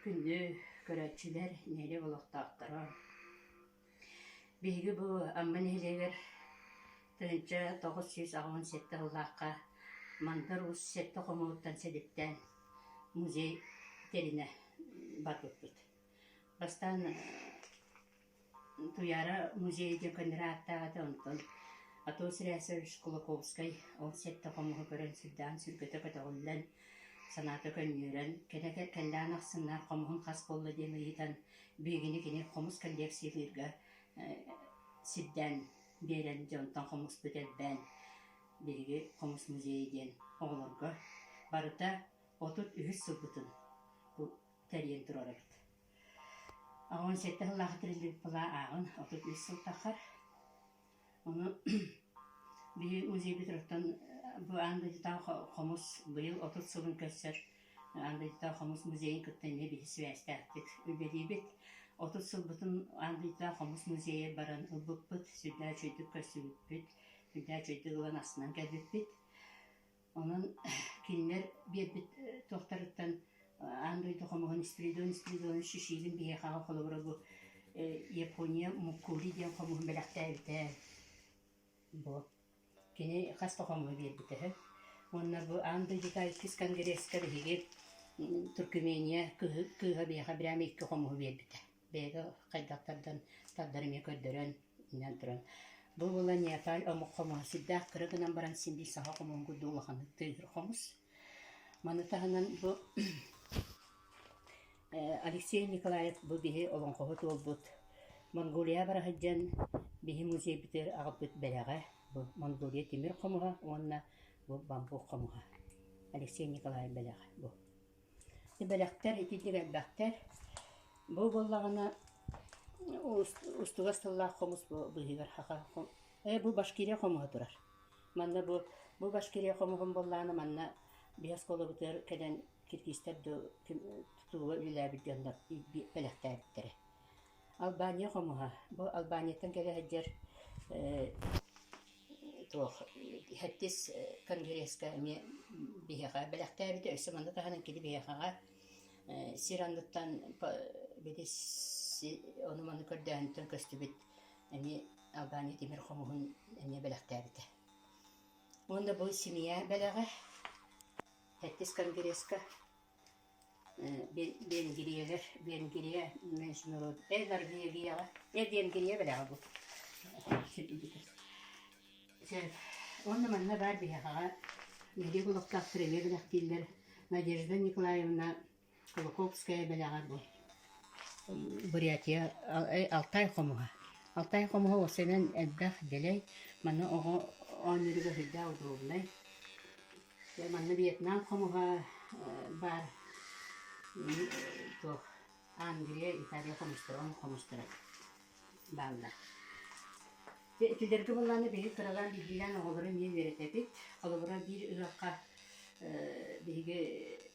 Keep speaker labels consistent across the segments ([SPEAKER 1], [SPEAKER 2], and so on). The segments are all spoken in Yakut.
[SPEAKER 1] Күндү көрөөччүлэр, нэһилиэк олохтоохторо! Биһиги бу Амма нэһилиэгэр тыһыынча тоҕус сүүс аҕыһын сэттэ сыллаахха Мандар Уус сэттэ хомуһуттан сэдиптээн музей тэринэ барбыппыт. Бастаан Туйаара музей диэн көннөрө ааттаах этэ, онтон Антон Стрясович Кулаковскай ол сэттэ хомуһу көрөн сырдаан сүргэтэ көтөҕүллэн, санаата көнньүөрэн, кэнэ кэллээн ахсыннаах хомуһун хас буолла диэн ыйытан, биһигини кини хомус коллекциялыырга сирдээн биэрэн, дьэ онтон хомуспут элбээн, биһиги хомус музейа диэн оҕолорго барыта отут үһүс сылбытын тэрийэн турар эбит. Оҕобун сэттэ сыллаахыта биллибит былаа ааҕан отут биэс сыл таххар. Ону били музей битoroттон бу аан дойдутааҕы хомус быйыл отут сылын көрсөр аан дойдутааҕы хомус музейын кытта эмиэ биһи сибээстээхтик үлэлиибит. Отут сылбытын аан дойдутааҕы хомус музейа баран ылбыппыт, сүрдээх үчүгэйдик көрсүбүппүт, сүрдээх үчүгэйдик ылан астынан кэлбиппит. Онон кинилэр биэрбит туохтарыттан аан дойду хомоҕун Спиридон Спиридон Шишигин биһиэхэҕэ холобура бу Япония Муккури диэн хомуһун бэлэхтээбитэ бу кини хас да хомуһу биэрбитэ үһү уонна бу аан дойдута иккис конгресска биһиги Туркмения кыыһа биһиэхэ бирээм икки хомуһу биэрбитэ бэйэтэ хайдахтардан тардар эмиэ көрдөрөн иҥэн туран бу була Неоталь омук хомуһа сирдээх кыра гынан баран син биир саха хомуһугу дуу улаханнык тыыһыыр хомус. Маны таһынан бу Алексей Николаев бу биһи олоҥхоһут уолбут Монголия бара сылдьан биһи музейбитигэр аҕалбыт бэлэҕэ бу Монголия тимир хомуһа уонна бу бамбук хомуһа Алексей Николаев бэлэҕэ бу Бэлэхтэр ититик элбэхтэр. Бу буоллаҕына устугас тыллаах хомус быыһыгар Ээ бу башкирия хомуһа турар. Манна бу бу башкирия хомуһун буоллаҕына манна биһи оскуолабытыгар кэлэн киргизтэр дуу тутууга үлэлээбит дьоннор бэлэхтээбиттэрэ. Албания хомуһа. Бу Албанияттан кэлэ сылдьар туох һэрдис конгресска эмиэ биһиэхэ бэлэхтээбитэ өссө манна таһынан кини биһиэхэҕэ сир анныттан били ону маны көрдөөһүнтэн көстүбүт эмиэ Албания тимир хомуһун эмиэ бэлэхтээбитэ уонна бу семья бэлэҕэ һэрдис конгресска Венгриялар Венгрия международ э Норвегияҕа э Венгрия бэрээҕэ бу уонна манна баар биһиэхэҕэ нэдиэлэ олохтоох сыровье бэлэхтииллэр Надежда Николаевна Кулаковская бэлэҕэ бу Бурятия Алтай хомуһа Алтай хомуһа уопсайынан элбэх дэлэй манна оҕо оонньууруга сүрдээх удобнай манна Вьетнам хомуһа баар туох Англия, Италия хомустара, он хомустара бааллар. Түдэрги буллааны биһи кыралаан биһиилээн оҕолору эмиэ үөрэтэбит. Холобура биир ыһахха биһиги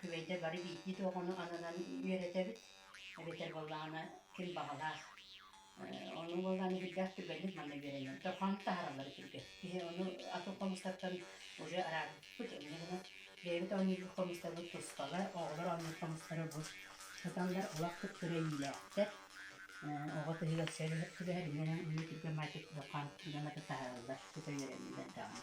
[SPEAKER 1] Күбэйдэ бары биирдии-туох ону ананан үөрэтэбит, эбэтэр буоллаҕына ким баҕалаах. Ону буоллаҕына биирдээх түргэнник манна үөрэнэбит. То хам таһараллар түргэн. Киһи ону атын хомустартан уже араарбыппыт, инньэ гынан бэйэбит оонньуурбут хомустарбыт тустала, оҕолор оонньуур хомустара бу сытаннар олох кыттыра иилээхтэр. Оҕо тыһыгар сүбэһэр, сүбэһэр инньэ гынан үлэ түргэн маачык улахан дьону кытта таһараллар, тута үөрэнэллэр даҕаны.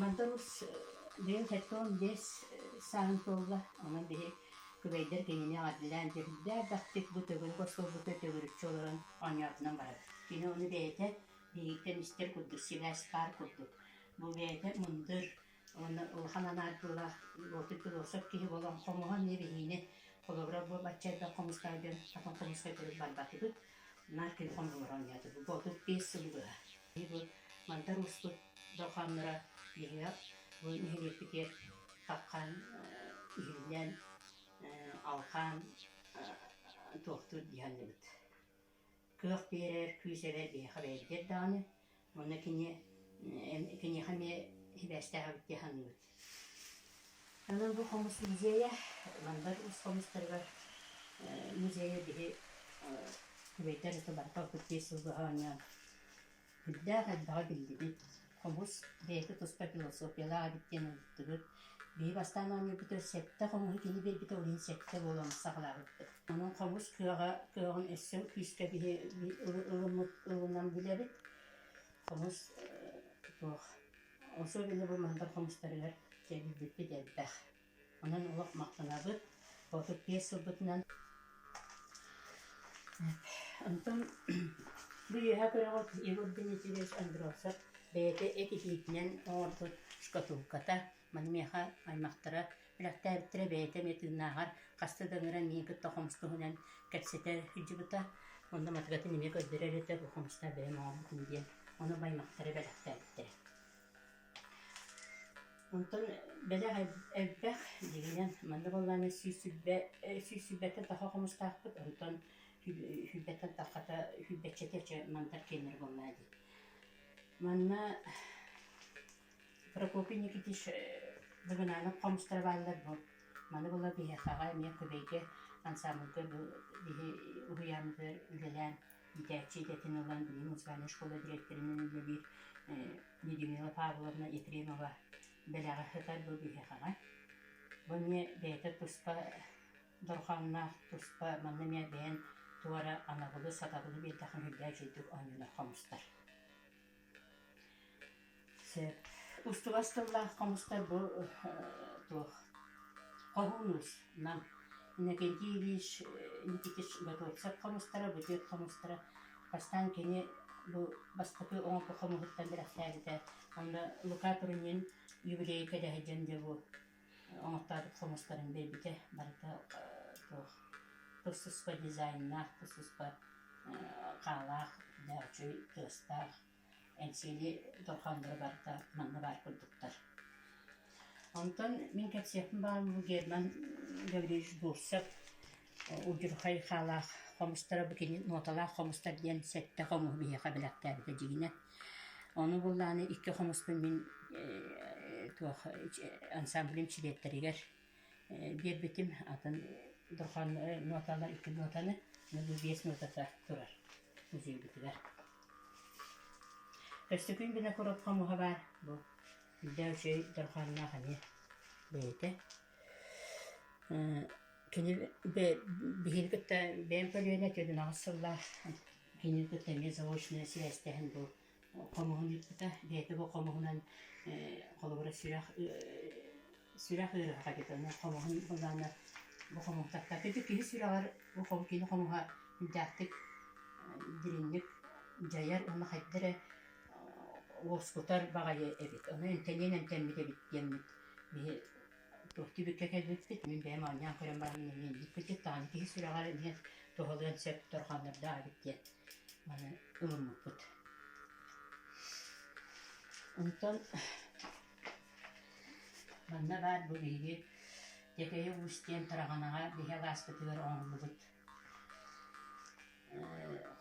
[SPEAKER 1] Мантан бэйэм сэттэ биэс сааһым туолла. Онон били күбэйдэр кинини эҕэрдэлээн бэрдээк-баттык бу төгүрүк остуолбутугар төгүрүкчү олорон оонньоотунан барар. Кини ону бэйэтэ биһигиттэн истэр курдук сибээс хаар курдук. Бу бэйэтэ мындыр уонна улахан анаардыылаах уоту философ киһи буолан хомуһан эмиэ биһиини холобура буолбачча элбэх хомустаах дьон хатан хомуска көрүк барбатыбыт. Мартин хонугар оонньоото. Бу буолбут биэс сыл быһа. Бу Мандар ууспут дорҕоонноро иһигэр бу нэһилиэкпитигэр хаххан иһиллэн алҕаан туохтуур диһаллыбыт. Кыах биэрэр, күүс эбэр биһиэхэ бэйэтигэр даҕаны Уонна кини киниэхэ эмиэ сибээстээх эбит дии саныыбыт. Онон бу хомус музейа Вандер уус хомустарыгар музейа биһи күбэйдэр это барыта ордук биэс сыл быһа оонньоон үрдээх элбэҕи биллибит. Хомус бэйэтэ туспа философиялаах эбит диэн ыллыктыыр Бэйи бастаан оонньуубутугар сэттэ хомуһу киһи биэрбитэ, ол иһин сэттэ буолан саҕалаабыппыт. Онон хомус кыаҕа, кыаҕын өссө күүскэ биһи ылыммыт, ылынан билэбит. Хомус туох особенно бу мандар хомустарыгар кэбирбиппит элбэх. Онон олох махтанабыт. Ботук биэс сылбытынан Антон бу үөһэ көрөҕүт Егор Дмитриевич Андровцев бэйэтэ эт итиитинэн оҥорбут шкатулката, маны миэхэ аймахтара бэлэхтээбиттэрэ бэйэтэ эмиэ тыыннааҕар хаста да ыҥыран миигин кытта хомус туһунан кэпсэтэ сылдьыбыта. Онно матыгатын эмиэ көрдөрөр этэ бу хомустар бэйэм оҥорбутум диэн. Ону аймахтара бэлэхтээбиттэрэ. Онтон бэлэх элбэх дьиҥинэн манна буоллаҕына сүүсүйбэ сүүсүйбэтэ тоһох хомустаахпыт онтон сүүрбэттэн хата сүүрбэччэтэ чэ мандар киэннэрэ буоллаҕа дии. Манна Прокопий Никитич Быгынаанап хомустара бааллар дуо маны буоллар биһиэхэҕэ эмиэ Кубейга ансаамбылга биһи уһуйааммытыгар үлэлээн иитээччи идэтин ылан билим музыкальнай школа дириэктэринэн үлэлиир Людмила Павловна Ефремова бэлэҕи сытар бу биһиэхэҕэ. Бонне бэйэтэ туспа дорҕааннаах, туспа манна эмиэ бэйэн туора анабылы, сатабылы биэрдэхин үрдээх дьиэтик оонньуулар хомустар. Устубас тыллаах хомустар бу туох хоһуунус нам Иннокентий Ильич Никитич Готовцев хомустара бу дьиэт хомустара бастаан кини бу бастакы оҥорбут хомуһуттан бэлэхтээбитэ онно Лука Турунин юбилей кэдэһэ диэн дьэ бу оҥортообут хомустарын биэрбитэ барыта туох тус-туспа дизайннаах, тус-туспа хаалаах, да үчүгэй тыастаах эҥсиэли дорҕооннору барыта манна баар курдуктар. Онтон мин кэпсиэхпин баҕар Герман Гаврилович Бурцев удьурхай хаалаах хомустара бу кини ноталаах хомустар диэн сэттэ хомуһу биһиэхэ бэлэхтээбитэ дьигинэ ону буллааны икки хомуспун мин э туох ансамблым чилиэттэригэр э биэрбитим атын дурхан э ноталар икки нотаны мөлүү биэс нотата турар музейбитигэр Өстөкүн бинокурот хомуһа баар бу үрдээ үчүгэй дурханнаах эмиэ бэйэтэ Кини биһиги кытта бэйэм көлүөнэ түөрүн аҕыс сыллаах кинини кытта эмиэ заочная связь дэһэн бу хомуһун ыыппыта. Бэйэтэ бу хомуһунан холобура сүрэх сүрэх ыарыһаҕа диэт аны хомуһун былааннар бу хомуһу таптаата. Ити киһи сүрэҕэр бу кини хомуһа үрдээхтик дириҥник дьайар уонна хайда эрэ уоскутар баҕайы эбит. Ону эмтэниэн эмтэммит эбит диэммит биһи туохтуу бүккэ кэлбит мин бэйэм оонньоон көрөн баран миэдик кырдьык даҕаны киһи сүрэҕэр эмиэ туһалыан сөп торҕоннордоо эбит диэн аны ылыммыппыт онтон манна баар бу биһиги Дэкэйэ Уус диэн Тараҕанаҕа биһи алааспытыгар оҥордубут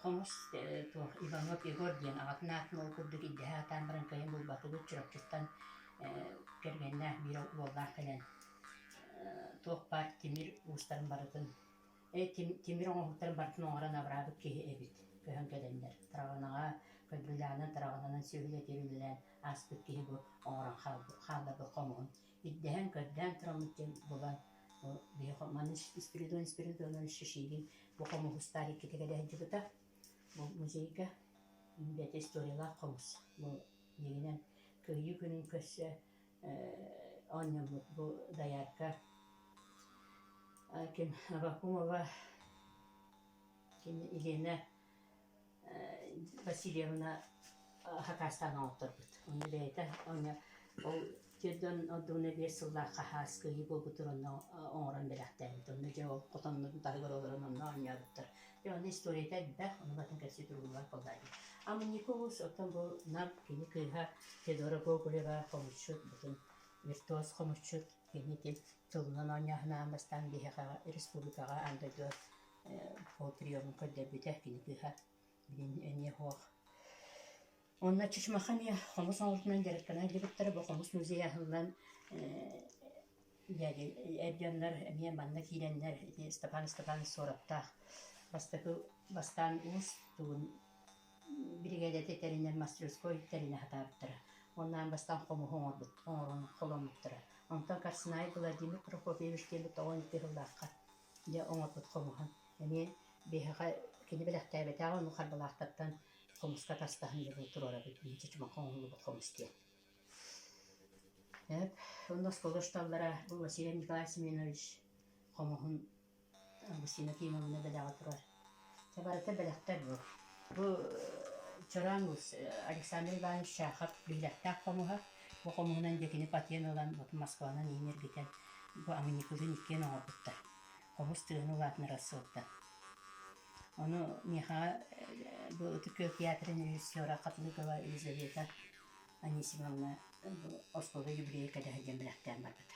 [SPEAKER 1] Хомус туох Иванов Егор диэн аҕатын аатын ол курдук ирдэһэ сатаан баран кыайан булбатыбыт Чурапчыттан кэргэннээх биир уоллаах кэлэн туох баар тимир уустарын барытын тимир оҥоһуктарын барытын оҥорон абыраабыт киһи эбит көһөн кэлэннэр Траҕынаҕа Кыргыйлаанан Траҕынанан сүөһүлэтир үлэлээн ааспыт киһи бу оҥорон хаалбыт хомуһун ирдэһэн-көрдөөн тураммыт диэн буолан биһиэхэ маны спиридон спиридонан шишигин бу хомуһустаах иккитэ кэдэһдьыбыта бу музейга бэт историялаах хомус бу дигинэн кыайыы күнүн көрсө оонньоммут бу доярка ким вакумова ким елена Васильевна хакаастаан оҥотторбут. Ону бэйэтэ ол дьон ордугуна биэс сыллаах хаһаас кыайыы буолбутун онно оҥорон бэлэхтээбит. Онно дьэ ол хотоннорун барыгар олорон онно оонньообуттар. Дьэ ону историята элбэх, ону батан кэпсии туругунан буолла дии. Амманикобус оттон бу Нам кини кыыһа Федора Гоголева хомусчут бутун виртуоз хомусчут кини ити тылынан оонньооһунаан бастаан биһиэхэ республикаҕа аан дойду Ол приемҥа көрдөрбүтэ кини кыыһа билин эмиэ суох Онно Чычмаха эмиэ хомус оҥорутунан дьарыктана илдьибиттэрэ бу хомус музейа аһыллан эр дьоннор эмиэ манна киирэннэр ити Ыстапаан Ыстапаанович Суораптаах бастакы бастаан уус тугун биригээдэтэ тэринэн мастерской тэринэ сатаабыттара. Ол аан бастаан хомуһу оҥорбут оҥорон холоммуттара. Онтон Карсынай Владимир Прокопьевич диэммит оҕо икки сыллаахха дьэ оҥорбут хомуһун эмиэ биһиэхэ кини бэлэхтээбэтэҕэ ону харбалаахтартан хомуска атастаһан дьылы туруорабыт иһинчэ чумахха оҥоһуллубут хомус диэн. Так, онно оскуола учууталлара бу Василий Николаевич Семенович хомуһун Василина Кимовна бэлэҕэ турар Чэ барыта бэлэхтэр буол. Бу Чораан Александр Иванович Чахов биһилэхтээх хомуһа. Бу хомуһунан дьиэ кини патен ылан Москванан иһин эргитэн бу амминикылыын иккиэн оҥорбуттар. Хомус тыаны улаатынар сылтан. Ону миэхэҕэ бу Ытык Күөл театрын режиссера Хатылыкова Елизавета Анисимовна бу остуолга юбилейга кэтэһэр диэн бэлэхтээн барбыта.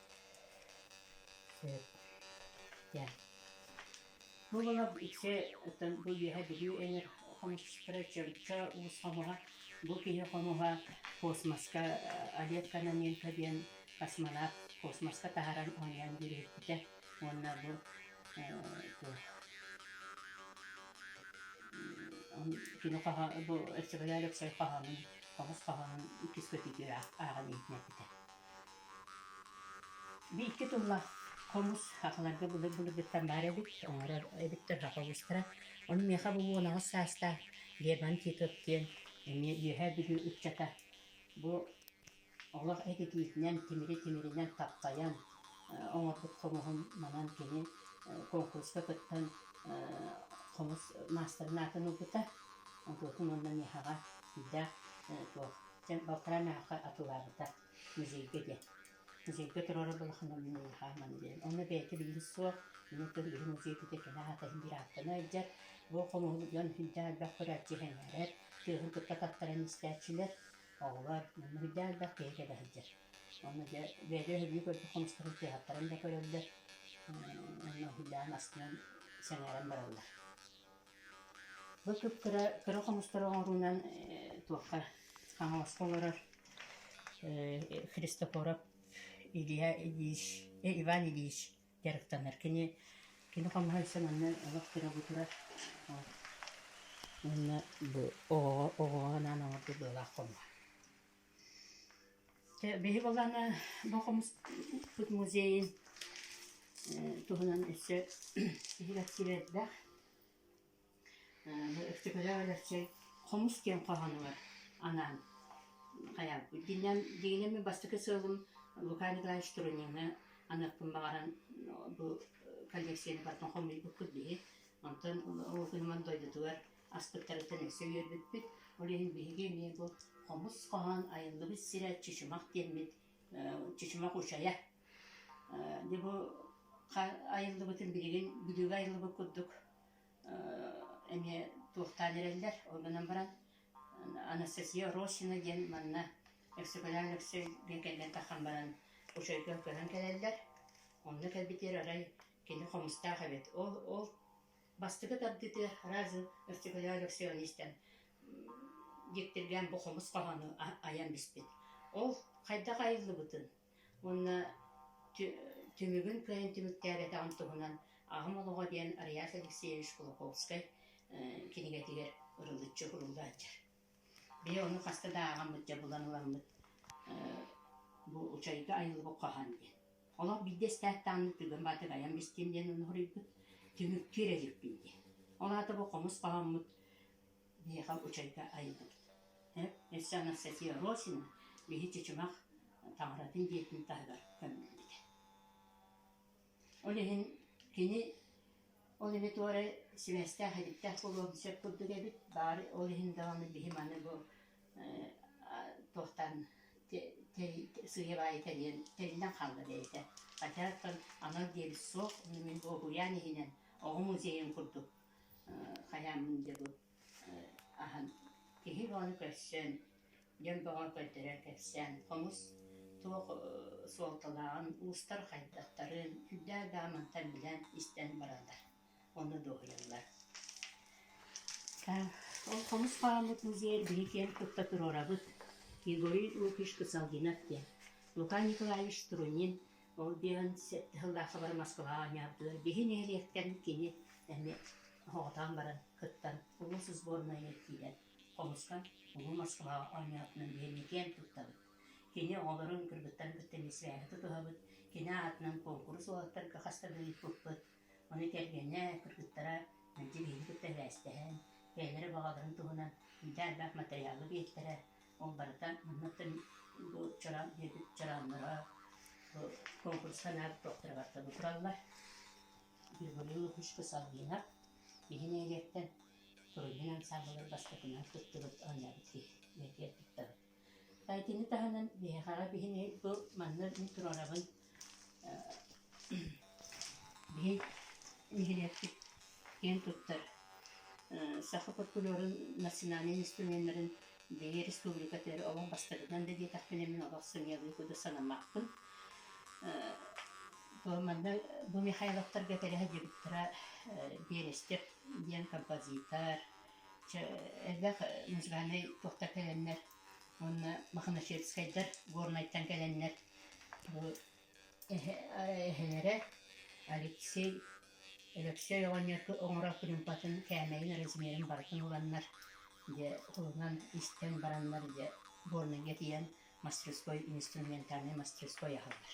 [SPEAKER 1] Дьэ. Бу ыла ити оттон бу үөһэ Бүлүү өлөр хомуспутара чөлчө уус хомуһа бу киһи хомуһа космоска Олег Кононенко диэн космонавт космоска таһаран оонньоон дьүрүһүппүтэ уонна бу кини хоһо бу Өксөкүлээ Өксөй хоһоонун хомус хоһоонун иккис көтүүтү ааҕан иһиннэрбитэ Бииргэ тыллаах хомус хахаларга былыр-былыргыттан баар эбит, оҥорор эбиттэр хах хомустара. Ону миэхэ бу буонаҕас саастаах Лермонт Титов диэн эмиэ Үөһээ Бүлүү ыччата бу олох этитиитинэн, тимири-тимиринэн хаппайан оҥорбут хомуһун манан кини конкурска кыттан хомус маастарын аатын ылбыта. Онтубутун уонна миэхэҕэ сиилээх туох Дьэ, балтараа наахха атылаарыта музейга диэн. Музейга туруора балахана мин улахааман диэн. Ону бэйэтэ билигин суох. Мин тыл үһүн музей бүтэ кини аата иһин биир ааттана илдьэр. Бу хомуһун дьон хүндээх элбэх көрөөччү иһэнээрэр. Тыаһын кытта таттаран истээччилэр. Оҕолор хүндээх элбэх киһитэ да сылдьар. Ону дьэ бэйэтэ өһүрүү көрбүт хомустарын тыаһаттаран да көрөллөр. Онно хүндээх астынан сэҥээрэн бараллар. Бу сыттара кыра хомустары оҥоруунан туохха хаҥаласка олорор Христофоров Илья Ильич Иван Ильич дьарыктанар. Кини кини хомуһайсан онно олох тырабытурар уонна оҕоҕо оҕоҕо анаан оҥорбут быалаах хомуһа Чэ биһи балаана бу хомуспут музейын туһунан өссө киһи кэпсиибэрдэх. Бу Өктөкөлөөх Өлөксөй хомус диэн хоһоонугар анаан хайаабыт. Дигинем дигинем бастакы сыалым Лука Николаевич Турунины аныахпын баҕаран бу коллекцияны барытын хомуйбуппут биһи. Онтон ол күнүмэн дойдутугар Аспыттарыттан өссө үөрбүппүт, ол иһин биһиги эмиэ бу хомус хоһоон Айыллыбыт сирэ чычымах диэммит чычымах учайа. Дьэ бу айыллыбытын билигин бүлүүгэ айыллыбыт курдук эмиэ туохтаан эрэллэр. Ол гынан баран Анастасия Росина диэн манна Өксөкүлээн Өксөйгө кэлэн тахан баран учайга көһөн кэлэллэр. Онно кэлбитигэр арай кини хомустаах эбит. Ол ол Бастакы тардытыы Разы Өрчүкүлэ Алексеевичтэн дьиктиргээн бу хомус хоһоону айан биспит. Ол хайдах айыллыбытын уонна түмүгүн кыайан түмүктээбэтэҕим туһунан Аҕам олоҕо диэн Реас Алексеевич Кулаковскай кинигэтигэр ырылыччы суруллааччы. Били ону хаста да ааҕаммыт, дьабылан ыламмыт бу учайга айылбыт хаһан диэн. Олох биирдэ эстээттаанмыт бүгүн баатык айан бистиэм диэн оноһуруйбут түмүктүү эрэ иликпин диэн. Ол аата бу хомус хаһаммыт биһиэхэ учайга айылбыт. Өссө Анастасия Росина биһи чычымах таҥаратын дьиэтин таһыгар көмүллүбүтэ. Ол иһин кини ол иһи туора сибээстээх иһиттээх буолуон сөп курдук эбит, баары ол иһин даҕаны биһим аны бу э туохтан сыыйа-баайа тэрийэн тэриллэн хаалла бэйэтэ. Хотя оттон анал диэбит суох, мин дуоһуйаан иһинэн оҕо музейын курдук э хайааммын дьэ бу аһан киһи ону көрсөн дьон бөҕө көрдөрө кэпсээн хомус туох суолталааҕын уустар хайдахтарын үрдээх да мантан билэн истэн бараллар онно дуоһуйаллар ол хомус хааммыт музей биһи киэн тутта туруорабыт Григорий Лукич Куцалгинов диэн Лука Николаевич Струнин Ол диэн тыһыллаах сабары Москваҕа оонньоотулар. Биһи нэһилиэктэн кини эмиэ соҕотоон баран кыттан улуус сборнайыгар киирэн хомустан улуу Москваҕа оонньоотунан диэни киэн туттабыт. Кини оҕолорун кыргыттарын кытта миссиэһи тутуһабыт. Кини аатынан куонкурус уолаттарга хаста да ыыппыппыт. Ону кэргэнэ, кыргыттара мэлдьи биһиги кытта эбээстэһэн, бэйэлэрэ баҕаларын туһунан миитэ элбэх матырыйаалы биэртэрэ. Ол барыта манныктан бу чараан диэбит чарааннара бу конкурска наада туохтарыгар табы тураллар. Григорий Лукичка Салгинов иһин эриэттэн Турунин ансаамбылыр бастакынан туттубут оонньообут киһи киэрпиттабыт. Итини таһынан биһиэхэҕэ биһини бу манна мин туруорабын Биһи нэһилиэкпит киэн туттар саха фольклорун национальнай инструменнарын биһи республика төрүт олох бастакытынан да диэтэхпинэ мин олох сымыйалыы курдук санаммаппын. Бу манна бу Михайловтарга кэрэһэдьибиттэрэ Берестев диэн композитор элбэх музыкальнай тустар кэлэннэр уонна маханасетскайдар Горнайтан кэлэннэр бу эһэлэрэ Алексей Алексей оҕонньорго оҥорор кырыымпатын кээмэйин размерин барытын ыланнар дьэ ылынан истэн бараннар дьэ Горнайга тиийэн мастерской инструментальнай мастерской аһаллар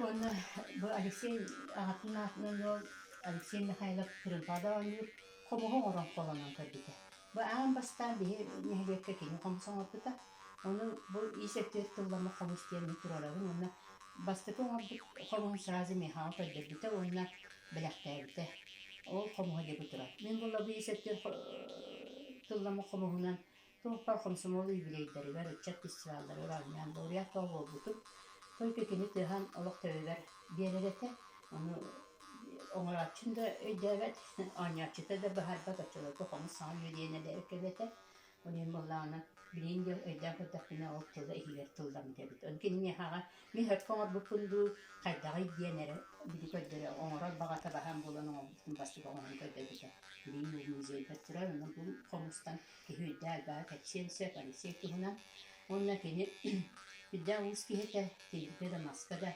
[SPEAKER 1] Уонна бу Алексей аҕатын аатынан ыал Алексей Михайлов Кырымпаада оонньуур хомуһу оҥорон холонон көрбүтэ. Бу аан бастаан биһи нэһилиэккэ кини хомус оҥорбута. Ону бу ис өттүгэр тылламмыт хомус диэн туруорабын уонна бастакы оҥорбут хомуһун сразу Михаил көрдөрбүтэ уонна бэлэхтээбитэ. Ол хомуһа диэки турар. Мин булла бу ис өттүгэр тылламмыт хомуһунан Суоппар хомсомуол үбүлүөйдэригэр, ыччат фестивалларын оонньоон, лауреат бөҕө буолбутум. Только кини тыаһан олох төбөбөр биэрэр этэ. Ону оҥорооччум да өйдөөбөт, оонньооччута да быһаарбат, оччолорго хонус саҥа үөдүйэн эбээккэм этэ. Ону ин буоллаҕына, билигин да өйдөөн көрдөхпүнэ, ол тыла иһигэр тылламмыт эбит. Ону киниэхэҕэ мин өртө оҥорбуппун дуу, хайдаҕый диэн эрэ били көрдөрө, оҥорор баҕата баһан буолан оҥорбутун бастык оҥорон көрдөрбүтэ. Билигин музейга турар, онон бу хомустан Киһийдээл баҕа кэпсиэн сөп, Алексей туһунан. Уонна кини үрдээх олус киһитэ, кинигэ да, маска да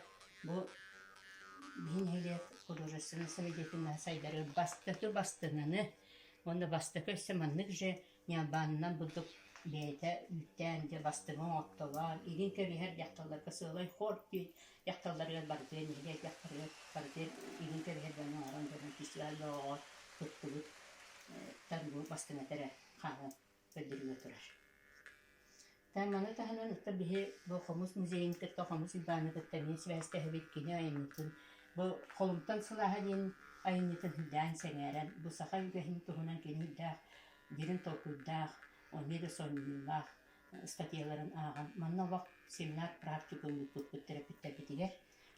[SPEAKER 1] бу биһи нэһилиэк художественнай соведетина сайдары бастакы бастыҥыны уонна бастакы өссө маннык же Ньалбаанынан бурдук бэйэтэ үүттээн дьэ бастыҥы оҥоттолоор, илин көрүһэр дьахталларга сыалай хор диир дьахталларыгар барытыгар нэһилиэк барытыгар илии кэбиһэр дьону оҥорон дьону фестиваль доҕоҕор кыттыбыттар бу бастыҥ этэрэ хааман көрдөрүлэ турар. Таҥ аны таһынан ыттар биһи бу хомус музейын кытта хомус уйбааны кытта эмиэ сибээстэһэбит кини айымньытын бу холумтан сылааһа диэн айымньытын үрдээн сэҥээрэн бу саха үгэһин туһунан кини үрдээх дириҥ толкуйдаах, эмиэ да сонньуйуулаах статьяларын ааҕан, манна олох семинар-практикум ыыппыппыт төрөппүттэрбитигэр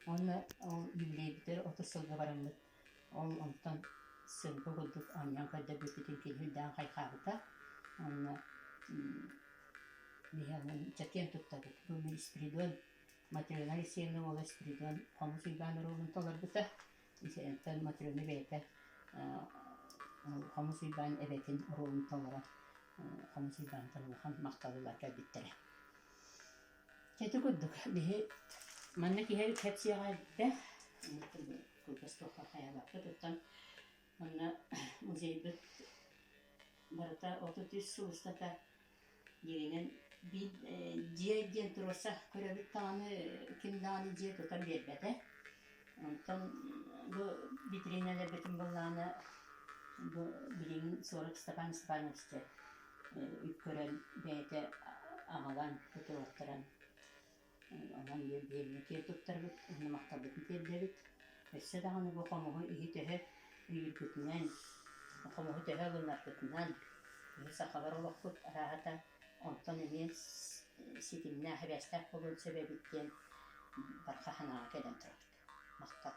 [SPEAKER 1] уонна ол юбилейбитигэр отут сылга бараммыт. Ол онтон сылга курдук анньан көрдөрбүппүтүн киһи үрдээн хайхаабыта. Уонна Михаилын чэкиэн туттабыт. Бу мин Спиридон Матрена Алексеевна уола Спиридон хомус уйбаан оруолун толорбута. Итиэнтэн Мотрена бэйэтэ Хомус Уйбаан эбэтин ролун толорон Хомус Уйбаантан улахан махталлар кэлбиттэрэ. Ити курдук биһи манна киһи кэпсиэҕэ элбэх кылгас туохха хайалаахпыт оттон манна музейбыт барыта отут үс сыл устата дииринэн биир дьиэ диэн туруорса көрөбүт даҕаны ким даҕаны дьиэ тутан биэрбэтэ онтон бу витриналарбытын быллаана бу билигин сорох Степан Степановичты э, үккөрөн бэйэтэ аҕалан тутуруохтаран Онон биэнсийэ туттарбыт, уонна махталбытын тиэрдэбит. Өссө даҕаны бу хомуһу иһи-төһө өйүүргүтүнэн, хомуһу төһө ылынаргытынан, биһи сахалар олохпут арааһата онтон эмиэ ситимнээх, эбээстээх буолуон сөп эбит диэн барҕа санааҕа кэлэн турабыт. Махтал.